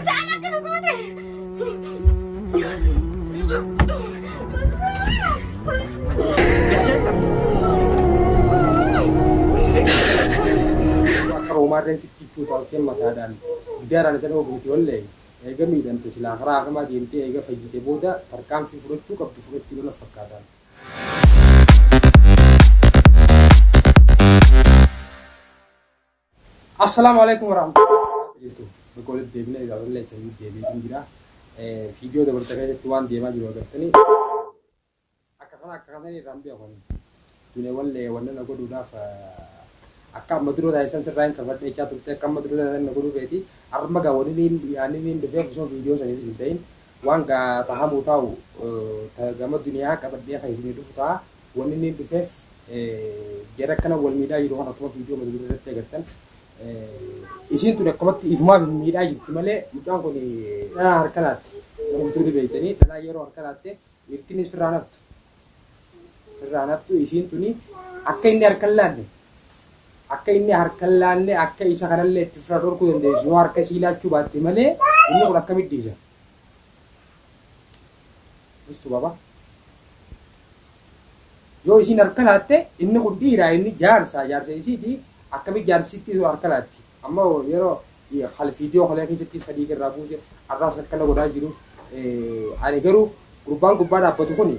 Isaan akka nu goote. Akka hoomaarreen sitti itti taphacheen mataadhaan gidaaraan isa dhoobu miti ollee eega miidhamte silaa karaa hakamaa deemtee eega fayyite booda tarkaanfii fudhachuu qabdu fudhachuu lola fakkaataan. Assalaamu alaikum warahmatullahi jirtu bakka walitti deebina egaa wallee isa hin deebiin jira fiidiyoo dabarta keessatti waan deemaa jiru agartanii akka kana akka kana irraan bi'a kun dune wallee wanna na godhuudhaaf akka amma dura taasisan sirraa hin kafadhe jechaa turte akka amma dura taasisan na godhuu feeti arma gaa wani niin yaani niin dhufee osoo fiidiyoo saniif isin ta'in waan gaa tahamuu taa'u gama duniyaa qabadhee kan isin dhufu ta'a Wanni inni hin dhufeef jara akkana wal miidhaa jiru kana akkuma viidiyoo mata duree irratti agartan isiin tuni akkamatti ifumaaf hin miidhaa jirti malee mucaan kun dhalaa harka laatte warri bituuti beeytanii dhalaa yeroo harka laatte dhiirtinni sirraa naftu sirraa naftu isiin tuni akka inni harka hin laanne akka inni harka hin laanne akka isa kanallee itti firra dhorkuu dandeessu yoo harka isii laachuu baatte malee inni kun akkamitti dhiisa. Ustu baba. Yoo isiin harka laatte inni kun dhiiraa inni jaarsa jaarsa isiiti akkamitti jaarsitti yoo harka laatti. Amma yeroo hal viidiyoo kalee keessatti isa dhiiga irraa buuse arraas akkana godhaa jiru. Ani garuu gurbaan gubbaa dhaabbatu kun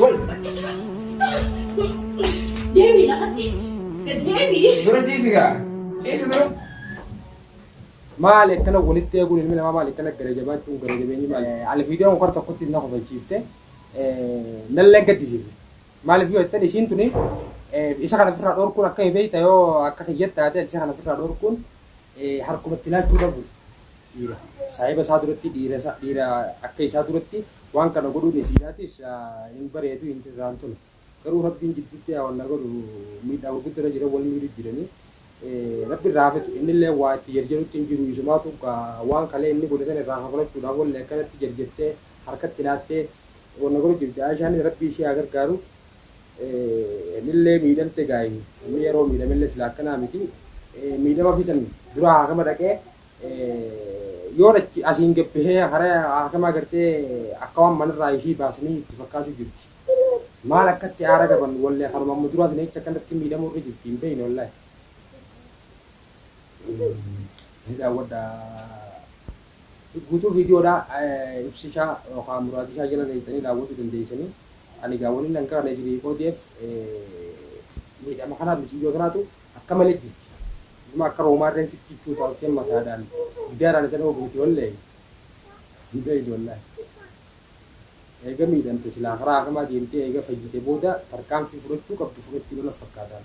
Wal. Deebii lafatti. Deebii. Dura ciisi gaa. Ciisi dura. Maali akkana walitti eeguun ilmi namaa maali akkana gara jabaachuun gara jabeenyi maali? Alviidiyoon kora tokkotti na kofalchiifte nallee gaddisiifte. Maaliif yoo jettan isiin tuni isa kana ofirraa dhorkuun akka beekta yoo akka kiyyatta taate isa kana ofirraa dhorkuun harkumatti laachuu dhabu. Dhiira. Saahiba isaa duratti dhiira isaa dhiira akka isaa duratti waan kana godhuun isiidhaatis hin bareedu hin irraan tolu. Garuu Rabbiin jidduutti yaa wanna godhu miidhaa gurguddaa irra jira wal miidhu jiranii Rabbi irraa hafetu innillee waa itti jarjarutti hin jiru isumaatu gaa waan kalee inni godhe sana irraa kafalachuudhaaf wallee akkanatti jarjartee harkatti laattee wanna godhu jirti Aayishaanis Rabbi ishee haa gargaaru. nillee miidhamte gaa'e namni yeroo miidhamellee sila akkanaa miti miidhama fi san dura haakama dhaqee yoo dhachi asiin gabbihee hara haakama agartee akka waan manarraa ishii baasanii itti fakkaatu jirti maal akkatti aara qaban wallee kanuma amma duraa sana jecha akkanatti miidhamuu irra jirti hin beeyne wallahi ni daawwadha Guutuu viidiyoodhaa ibsishaa yookaan muraadishaa jala leeyxanii daawwachuu dandeeysanii. Ani egaa waniin an kaane jirii odf miidhama kanaa miciyyoo tanaatu akka malee jirti. Dhuguma akka roomaa irreen sitti cichuu taattee mataadhaan giddaaraan isa dhoogu miti wallee hin beeytu wallaahi. Eega miidhamte silaa karaa akamaa deemtee eega fayyite booda tarkaanfii fudhachuu qabdu fudhachuu lola fakkaataan